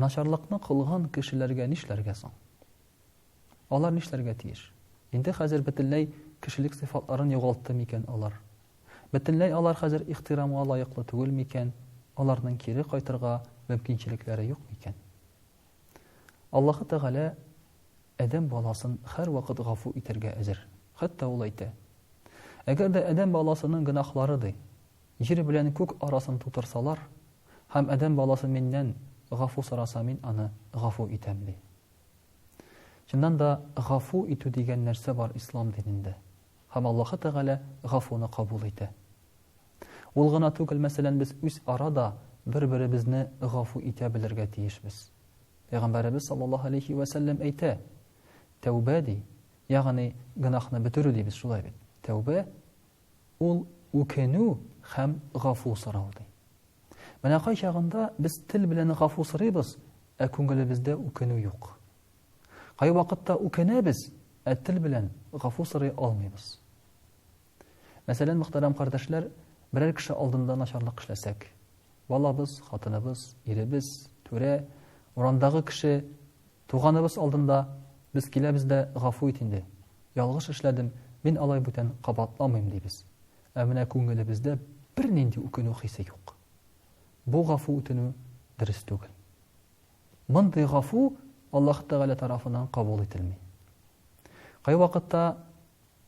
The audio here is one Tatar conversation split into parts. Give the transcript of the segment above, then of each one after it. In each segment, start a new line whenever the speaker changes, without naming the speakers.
Начарлыкны кылган кешеләргә нишләргә соң? Алар нишләргә тиеш? Инде хәзер бөтенләй кешелек сыйфатларын югалтты микән алар? Бөтенләй алар хәзер ихтирамга лаеклы түгел микән? Аларның кире кайтырга мөмкинчелекләре юк микән? Аллаһы Тәгалә адәм баласын һәрвакыт гафу итәргә әзер. Хәтта ул әйтә, Әгәр дә адәм баласының гөнаһлары, ди, Җир белән күк арасын тутырсалар, һәм адәм баласы миннән гафу сораса, мин аны гафу итәм, ди. Чыннан да, гафу итү дигән нәрсә бар ислам динендә. Һәм Аллаһы Тәгалә гафуны кабул итә. Ул гына түгел, мәсәлән, без үз ара да бер-беребезне гафу итә белергә тиешбез. Пәйгамбәребез саллаллаһу алейхи вә сәлләм әйтә, тәүбә ди, ягъни гынахны бетерү дибез шулай бит. Тәүбә Ул үкенү һәм гафу сорау ди. Менә кайчагында без тел белән гафу сорыйбыз, ә күңелебездә үкенү юк. Кайвакытта үкенәбез, ә тел белән гафу сорый алмыйбыз. Мәсәлән, мөхтәрәм кардәшләр, берәр кеше алдында начарлык эшләсәк, балабыз, хатыныбыз, иребез, түрә, урандагы кеше Туганыбыз алдында без киләбез дә гафу ит инде, ялгыш эшләдем, мин алай бүтән кабатламыйм дибез. Ә менә күңелебездә бернинди үкенү хисе юк. Бу гафу үтенү дөрес түгел. Мондый гафу Аллаһ Тәгалә тарафыннан кабул ителми. Кайвакытта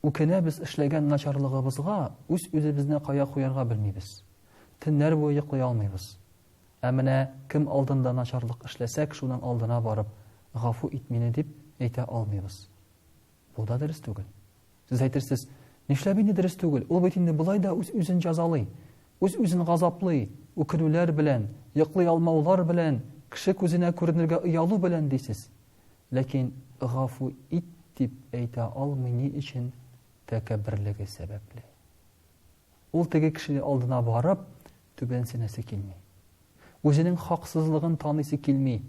үкенәбез эшләгән начарлыгыбызга, үз-үзебезне кая куярга белмибез. Төннәр буе йоклый алмыйбыз. Ә менә кем алдында начарлык эшләсәк, шуның алдына барып, гафу ит мине дип әйтә алмыйбыз. Бу да дөрес түгел. Сез әйтерсез, нишләп инде дөрес түгел? Ул бит инде болай да үз-үзен җәзалый, үз-үзен газаплый, үкенүләр белән, йоклый алмаулар белән, кеше күзенә күренергә оялу белән дисез. Ләкин гафу ит дип әйтә алмый ни өчен? Тәкәбберлеге сәбәпле. Ул теге кешенең алдына барып, түбәнсенәсе килми. Үзенең хаксызлыгын таныйсы килми.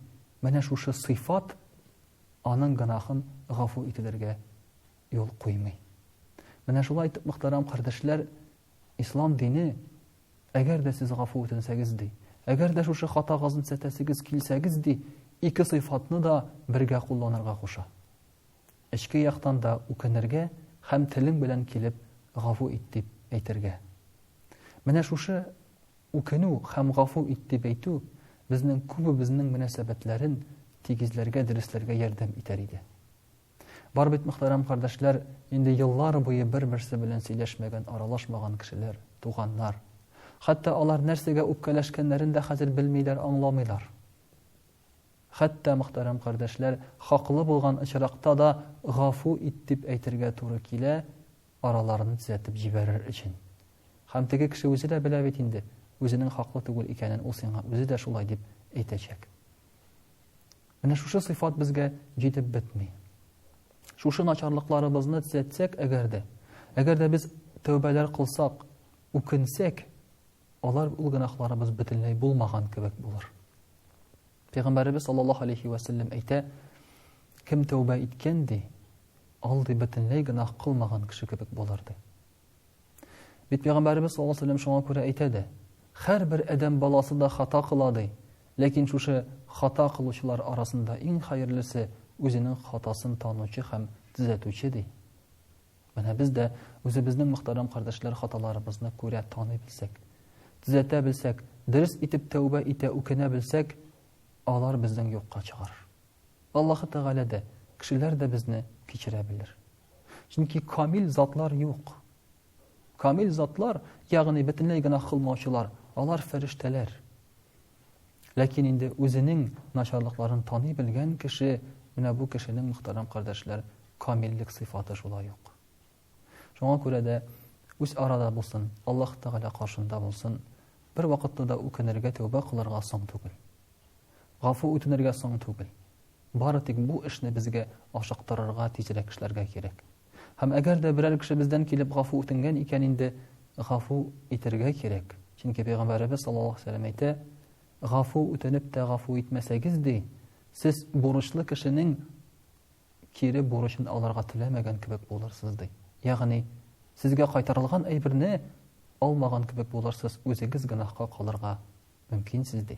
Менә шушы сыйфат аның гынахын гафу ителергә юл куймый. Менә шулай итеп, мөхтәрәм кардәшләр, ислам дине, әгәр дә сез гафу үтенсәгез ди, әгәр дә шушы хатагызны сәтәсегез килсәгез ди, ике сыйфатны да бергә кулланырга куша. Эчке яктан да үкенергә һәм телең белән килеп гафу ит дип әйтергә. Менә шушы үкенү һәм гафу ит дип әйтү безнең күбебезнең мөнәсәбәтләрен тигезләргә, дөресләргә ярдәм итәр иде. Бар бит, мөхтәрәм кардәшләр, инде еллар буе бер-берсе белән сөйләшмәгән, аралашмаган кешеләр, туганнар. Хәтта алар нәрсәгә үпкәләшкәннәрен дә хәзер белмиләр, аңламыйлар. Хәтта, мөхтәрәм кардәшләр, хаклы булган очракта да гафу ит дип әйтергә туры килә, араларны төзәтеп җибәрер өчен. Һәм теге кеше үзе дә белә бит инде, үзенең хаклы түгел икәнен ул сиңа үзе дә шулай дип әйтәчәк. Менә шушы сыйфат безгә җитеп бетми. Шушы начарлыкларыбызны төзәтсәк, әгәр дә, әгәр дә без тәүбәләр кылсак, үкенсәк, Алар ул гөнаһларыбыз бөтенләй булмаган кебек булыр. Пәйгамбәребез саллаллаһу алейхи ва сәлләм әйтә, кем тәүбә иткән ди, ул ди бөтенләй гөнаһ кылмаган кеше кебек булыр ди. Бит пәйгамбәребез саллаллаһу алейхи ва сәлләм шуңа күрә әйтә дә, һәрбер адәм баласы да хата кыла ди, ләкин шушы хата кылучылар арасында иң хәерлесе үзенең хатасын танучы һәм төзәтүче ди. Менә без дә үзебезнең мөхтәрәм кардәшләр хаталарыбызны күрә, таный белсәк, төзәтә белсәк, дөрес итеп тәүбә итә, үкенә белсәк, алар безнең юкка чыгар. Аллаһы Тәгалә дә, кешеләр дә безне кичерә белер. Чөнки камил затлар юк. Камил затлар, ягъни бөтенләй генә кылмаучылар, алар фәрештәләр. Ләкин инде үзенең начарлыкларын таный белгән кеше, менә бу кешенең, мөхтәрәм кардәшләр, камиллек сыйфаты шулай ук. Шуңа күрә дә үз арада булсын, Аллаһ Тәгалә каршында булсын, бер вакытта да үкенергә, тәүбә кылырга соң түгел. Гафу үтенергә соң түгел. Бары тик бу эшне безгә ашыктырырга, тизрәк эшләргә кирәк. Һәм әгәр дә берәр кеше бездән килеп гафу үтенгән икән инде, гафу итергә кирәк. Чөнки пәйгамбәребез саллаллаһу алейһи ва сәлләм әйтә, гафу үтенеп тә гафу итмәсәгез ди, сез бурычлы кешенең кире бурычын алырга теләмәгән кебек булырсыз ди. Ягъни сезгә кайтарылган әйберне алмаган кебек булырсыз, үзегез гөнаһка калырга мөмкинсез ди.